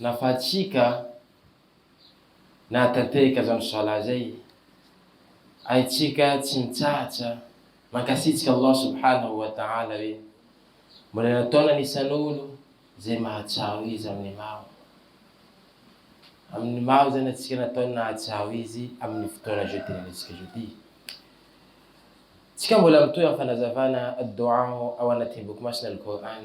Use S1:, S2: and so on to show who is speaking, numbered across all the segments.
S1: Nafahatsika nahatanteraka izany Salat izay, haintsika tsy mitsahatra mankasitraka Allah Subhanahu wa Ta'ala hoe mbola nataony anisan'olo izay mahatsiaro Izy amin'ny maro, amin'ny maro izany antsika nataony nahatsiaro Izy amin'ny fotoana izao itenenentsika izao ity. Tsika mbola mitohy amin'ny fanazavana Ad-Do'aa ao anatin'ny Boky Masina Al-Qur'an,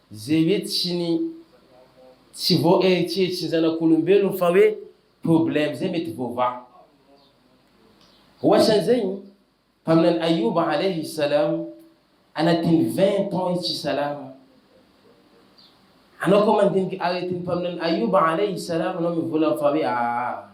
S1: Izay hoe tsy ny tsy voaeritreritry ny zanak'olombelona fa hoe problème zay mety voavaha. Ohatra an'izay ny mpaminany Ayouba Alaihi Salam anatin'ny vingt ans i tsy salama. Anao koa mandinika aretin'ny mpaminany Ayouba Alaihi Salam anao mivolagna fa hoe aa.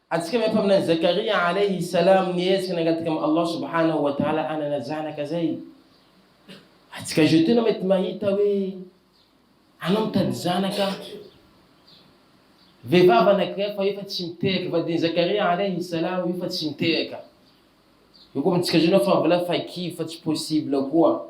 S1: Antsika mahay mpaminany Zakaria alaihi salaam nihetsika nangataka amin'i Allah subhanahu wa ta'ala hanana zanaka zay. Antsika zao tena mety mahita hoe anao mitady zanaka vehivavy anankiray fa io fa tsy mitehaka, vadin'i Zakaria alaihi salaam io fa tsy mitehaka. Io koa amintsika zao na fa mbola fa kivy fa tsy possible koa.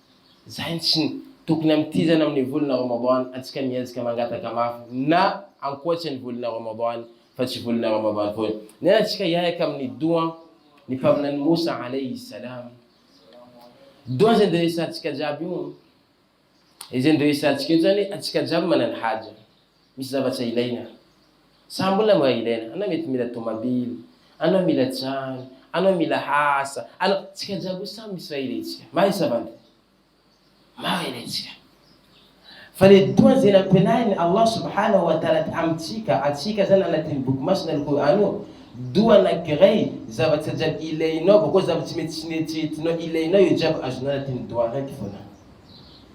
S1: Zay ny tsiny tokony amitizana amin'ny volana Ramadan antsika miezaka mangataka mafy na ankoatry ny volana Ramadan fa tsy volana Ramadan foana. Nena tsika hiahaka amin'ny doha ny mpaminany Moussa alayhi salam. Doha zay nderesantsika jiaby io. Izay nderesantsika io zany antsika jiaby manana haja. Misy zavatra ilaina. Za mbola mba ilaina. Anao mety mila tomabily. Anao mila trano. Anao mila asa. Anao. Tsika jiaby io samy misy raha ilaintsika. Marina va ndry? Maro ilaintsika. Fa le dua zay nampianarin'i Allah Subhanahu wa Ta'ala amintsika, antsika zany anatin'ny Boky Masina Al-Qur'an io, dua anankiray, zavatra jiaby ilainao, bakeo zavatra tsy mety tsy neritreretinao ilainao io jiaby azonao anatin'ny dua raiky fona.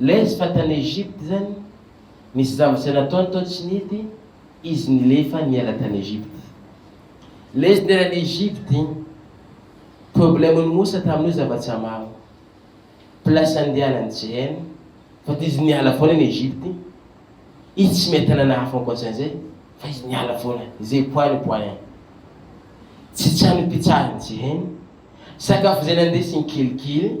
S1: Lez fa tany Egypte zany nisy zambotse nataony tao tsy nety izy nilefa niala tany Egypte. Lez niala any Egypte igny problème ny Moussa tamin'io zavatsa maro. Place andianany tsy hainy fa ty izy niala foana any Egypte. Izy tsy miha tanana hafa ankoatran'izay fa izy niala foana izay point ny point. Tsy trano ipitsahany tsy hainy, sakafo izay nandesiny kelikely.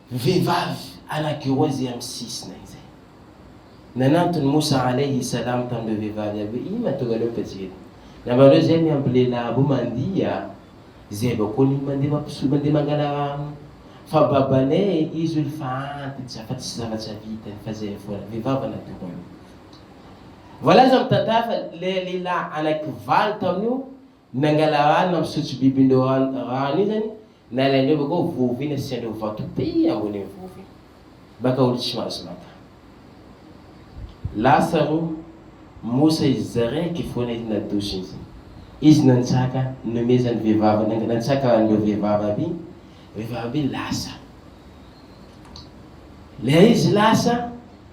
S1: Vehivavy anakiroa izay amin'ny sisina izay. Nanantona i Moussa Alayhi Salam tamin'ireo vehivavy avy hoe, Inona tonga anao taty eto? Nambaran'ireo izay miampy lehilahy roa mandia, izay avy ao Nil mandeha mampiso, mandeha mangala rano. Fa babanay e, izy hono efa antitra fa tsisy zavatra vitany fa izay foana. Vehivavy anakiroa io. Voalaza amin'ny tantara fa ilay lehilahy anakivalo tamin'io Nangala rano nampisotro bibindreo rano rano iny zany nalaindreo bakao vovo iny asiandreo vato be ambony iny vovo iny maka olo tsy mahazo maka lasa ro mosa izy zaraiky fona izy nadoso iny zay izy nantsaka nomezany vevavy nang nantsaka anreo vevavy aby iny vevavy aby iny lasa le izy lasa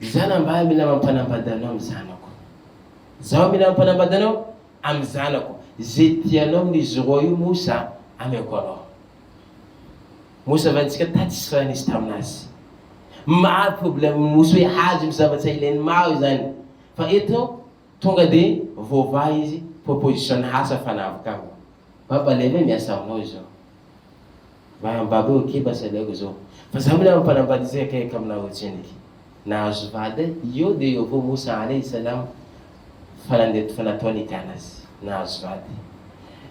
S1: Izaho nambaly mila mampanambady anao ny zanako. Zaho mila mampanambady anao amin'ny zanako. Ze tianao amin'izy roa io Mosa ameko anao. Mosa valintsika tatsy sy raha nisy taminazy. Maro problème ny Mosa hoe hazo ny zavatra ilainy maro izany. Fa eto tonga de voavaha izy proposition hafa fanavoka aminy. Baba lehibe miasa aminao izao. Manambako ny kiba sy aleoko zao fa za mila mampanambady izay akaiky aminah o tsendriky nahazo vady eh eo de eo avao moa sahala eh islam fa nandeha to fa natoa nikah nazy nahazo vady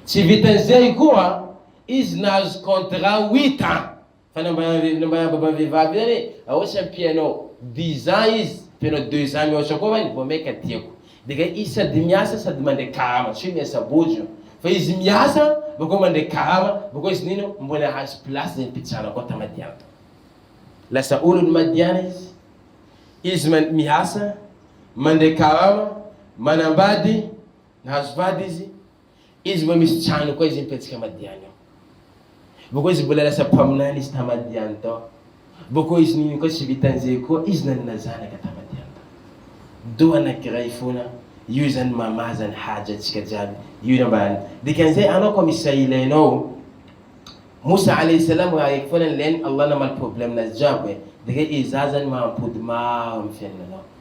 S1: tsy vitan'izay koa izy nahazo contrat huit ans fa nambaran'ny nambaran'ny baban'ny vehivavy io zany hoe aosa ampianao dix ans izy ampianao deux ans mihoatra koa va ny vao maika tiako Dega izy sady miasa sady mandre karama tsy hoe miasa bôjo io fa izy miasa bakeo mandre karama bakeo izy nino mbola ahazo place zay mpitsara koa ta madiana tao lasa olony madiana izy izy man miasa mandre karama manambady nahazo vady izy Izy mbola misy trano koa izy mipetsaka Madiany ao. Bôkô izy mbola lasa mpaminany izy ta Madiany tao. Bôkô izy nini koa tsy vitan zay koa izy nanana zanaka ta Madiany tao. Do anakiray fona, io zany mama zany Haja antsika jiaby, io no ambarany. Dikan zay anao koa misy raha ilainao. Moussa alayhi salam raha raiky fona nilainy Allah namaly problème nazy jiaby e. Dika iza zany mahampody maro am fiainananao.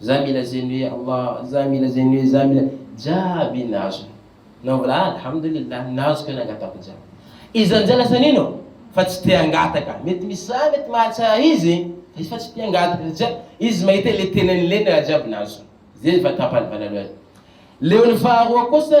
S1: Za mila zeny hoe Allah, za mila zeny hoe za mila, jiaby nazony. Nao mbola alhamdoulilah nazo ka nangatako jiaby. Izy amin'izay lasa nino fa tsy te hangataka. Mety misy za mety mahatsara izy fa izy fa tsy te hangataka satria izy mahita hoe le tenany le ny raha jiaby nazony. Zay vao tapany voalaloany. Leon'ny faharoa kosa.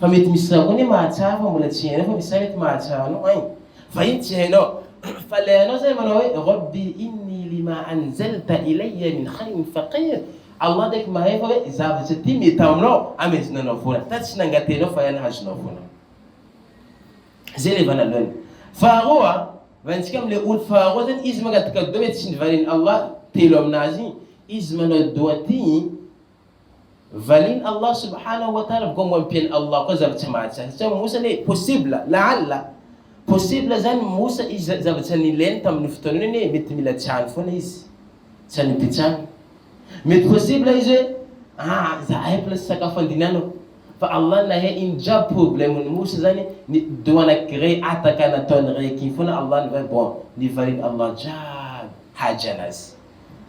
S1: Fa mety misy za koa anie mahatsara fa mbola tsy hainao fa misy za mety mahatsara anao hein! Fa iny tsy hainao fa le anao zany manao hoe Rabbi inni lima anzalta ilayya min khairin faqir, Allah kaiky mahay fa hoe zavatra ity mety aminao amezonao anao vola, ta tsy nangatenao fa iany hazonao vola. Zay le vanalohany. Faharoa, vantsika am le olo faharoa zany izy mangataka doa mety tsy nivalin'i Allah telo aminazy igny, izy manao doa ty, Valin Allah subhanahu wa ta'ala vao mampiely Allah koa zava tsy mahatsy azy tsy mimosa anie possible la'alla possible zany mimosa izy zavatra nilainy tamin'io fotoana io anie mety mila tsihany foana izy tsy anipitsany mety possible izy hoe ah zahay mbola tsy sakafo andinanako fa Allah nahay iny jiaby problème ny moussa zany ny doha anaky rey ataka nataony rey ky foana Allah nivay bon nivalin Allah jiaby haja anazy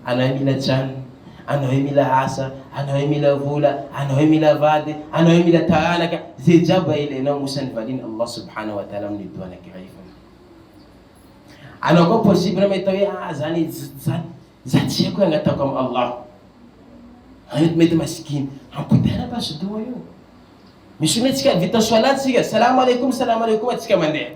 S1: Anao e mila trano, anao e mila asa, anao e mila vola, anao e mila vady, anao e mila taranaka, ze jaba ilainao mosa ny valin' Allah subhanahu wa ta'ala amin'ny doha anankiray foana. Anao koa possible mety hoe ah zany za tsy haiko angataoko am Allah. Anao mety masikina, ampitaina basy doha io. Misy olona tsika vita solat tsika, salam aleikum salam aleikum tsika mandeha.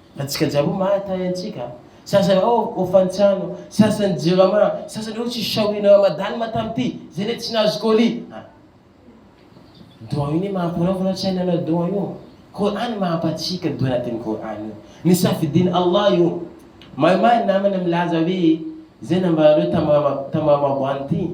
S1: Antsika jiaby mahay tahay antsika. Sasany ao au fantsiano, sasany jirama, sasany ao tsy shauri na ramadan ma tamty, zay le tsy nahazo colis. Ah. Doha io ne mampiraofana saina anao doha io. Qur'an mampatsiaka doha anatin'ny Qur'an io. Ny safidin'i Allah io. Maimay ny namana milaza hoe, zay nambaranareo tamin'ny tamin'ny ramadan ty.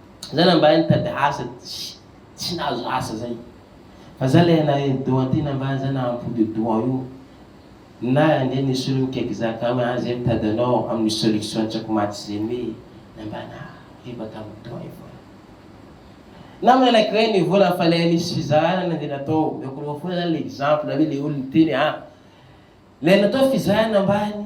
S1: Za na mba nitady asa tsy nahazo asa zay fa za le na eny doha ty na mba za nahampody doha io na ande nisolo ny cake zaka hoe an ze mitady anao aminy solution tsako maty ze me na mba na ribaka aminy doha io foana na malaky hoe ny vola fa le nisy fizahana nande natao omeko anao foana zany le exemple hoe le olo niteny an le natao fizahana ambany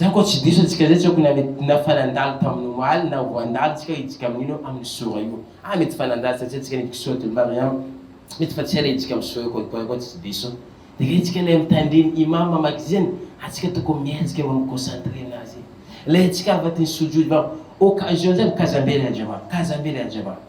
S1: Zany koa tsy diso antsika zay tsy aoko na fa nandalo tamin'ny omaly na vao handalo tsika hijika amin'ino amin'ny sora io ah mety fa nandalo satria tsika nivy kisoa de mariam mety fa tsy ela hijika amin'ny sora io kolikoly koa tsy diso de le tsika le mitandriny imam mamaky zeny ah tsika tokony miezaka mba mi concentre anazy le tsika avadiny sujud mba occasion zay mikaza mbele andriamanitra kaza mbele andriamanitra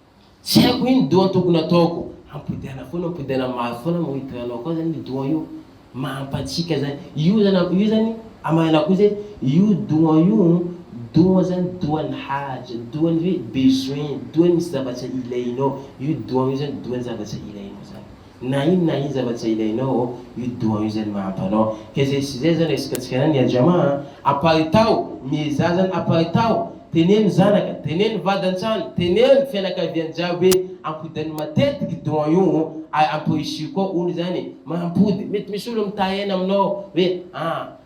S1: Tsy haiko inn doha tokony ataoko. Ampodiana foana ampodiana mafy foana moa hitohy anao koa zany io doha io mampatsiaka zany io zany io zany amahana koa zay io doha io doha zany dohan'ny haja dohan'ny hoe besoin dohan'ny misy zavatra ilainao io doha io zany dohan'ny zavatra ilainao zany. na ino na ino zavatra izay ilainao ô, io doha io zany no mahampy anao. Ka izay sy izay zany resakantsika anany ya Jama a, aparitaho, miezaha zany aparitaho, teneno zanaka, teneno vady an-trano, teneno fianakaviana jiaby hoe ampodainy matetiky doha io ô, ary amporisihiko koa olo zany e, mampody, mety misy olo mitahy aina aminao hoe a,